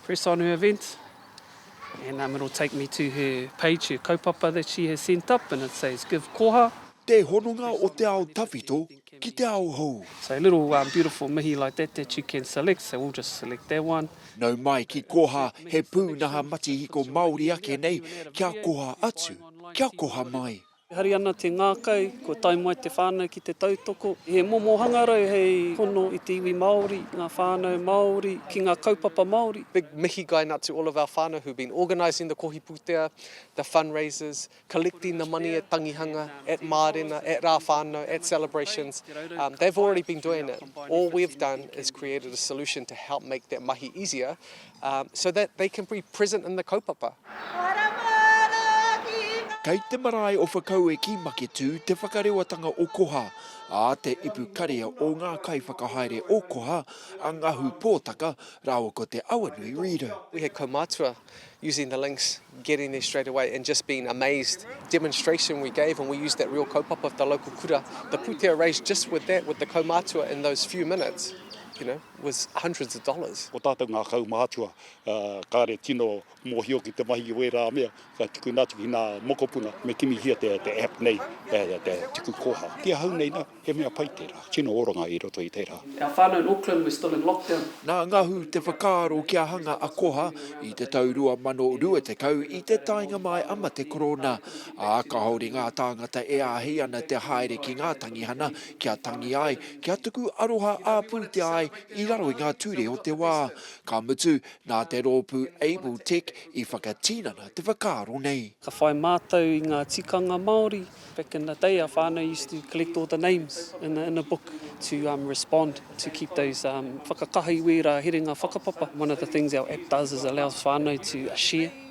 Press on her event. And um, it'll take me to her page, her kaupapa that she has sent up, and it says give koha. Te hononga o te ao tawhito ki te ao hou. So a little um, beautiful mihi like that that you can select, so we'll just select that one. Nau mai ki koha he pūnaha matihiko Māori ake nei kia koha atu, kia koha mai. E hari ana te ngākau, kua tae mai te whānau ki te tautoko. He momo hangarau hei hono i te iwi Māori, ngā whānau Māori, ki ngā kaupapa Māori. Big mihi gain out to all of our whānau who've been organising the kohi pūtea, the fundraisers, collecting the money at Tangihanga, at Mārena, at Rā Whānau, at celebrations. Um, they've already been doing it. All we've done is created a solution to help make that mahi easier so that they can be present in the kaupapa. Kei te marae o Whakaueki Maketū te whakarewatanga o Koha, ā, te ipu karea o ngā kaiwhakahaere o Koha, a Ngahu Pōtaka rāua ko Te Awanui Reader. We had kaumātua using the links, getting there straight away and just being amazed, demonstration we gave and we used that real kaupapa with the local kura, the pūtea raised just with that, with the kaumātua in those few minutes, you know. with hundreds of dollars. Ko tātou ngā kaumātua, kāre tino mōhio ki te mahi o ērā mea, ka tukuna atu ki nā mokopuna, me kimihia te app nei, te tuku koha. Ki ahau nei nā, he mea pai tērā, tino oranga i roto i tērā. Our whānau in Auckland, we're still in lockdown. Nā Ngahu te whakaaro kia hanga a Koha i te tau 2020 i te taenga mai a mate korona, ā, kāore ngā tāngata e āhei ana te haere ki ngā tangihana Kia tangi ai, kia tuku aroha ā-pūtea ai i raro i ngā ture o te wā. Ka mutu, nā te rōpū Able Tech i whakatinana te whakaaro nei. Ka whai mātou i ngā tikanga Māori, back in the day our whānau used to collect all the names in a in a book to respond to keep those whakakaha i wērā herenga whakapapa. One of the things our app does is allows whānau to share.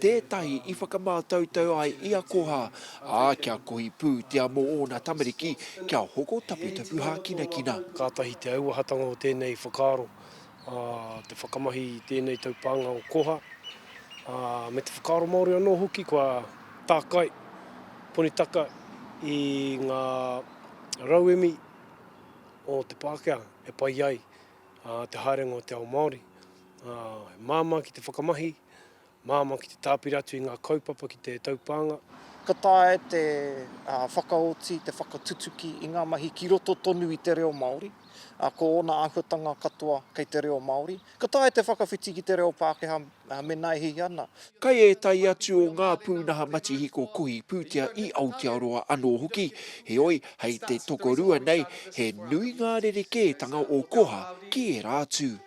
tētahi i whakamātautau ai i a Koha, ā, kia kohi pūtea mō ōna tamariki kia hoko taputapu hākinakina. Kātahi te auahatanga o tēnei whakaaro, ā, te whakamahi i tēnei taupānga o Koha, ā, me te whakaaro Māori anō hoki kua tākai ponitaka i ngā rauemi o te Pākehā e pai ai te haerenga o te ao Māori. He māmā ki te whakamahi, Māmā ki te tāpiri atu i ngā kaupapa ki te taupānga. Ka taea e te whakaoti te whakatutuki i ngā mahi ki roto tonu i te reo Māori, ā, ko ōna āhuatanga katoa kei te reo Māori. Ka taea te whakawhiti ki te reo Pākehā mēnā e hiahia ana. Kei ētahi atu o ngā pūnaha matihiko kohi pūtea i Aotearoa anō hoki, heoi, hei te tokorua nei, he nui ngā rerekētanga o Koha ki ērā atu.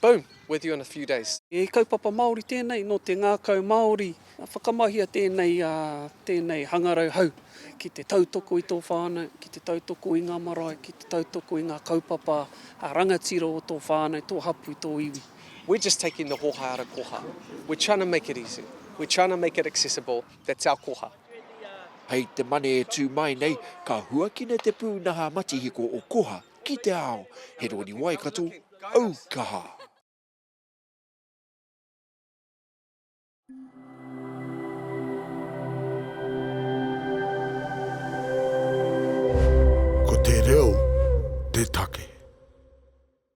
Boom! With you in a few days. He kaupapa Māori tēnei nō te ngākau Māori. Whakamahia tēnei, tēnei hangarau hau ki te tautoko i tō whānau, ki te tautoko i ngā marae, ki te tautoko i ngā kaupapa rangatira o tō whānau, tō hapū, tō iwi. We're just taking the hōhā out of koha. We're trying to make it easy. We're trying to make it accessible. That's our koha. Hei te mane e tū mai nei, ka huakina te pūnaha matihiko o koha ki te ao. He rori Waikato, Au kaha! Ko te reo te take.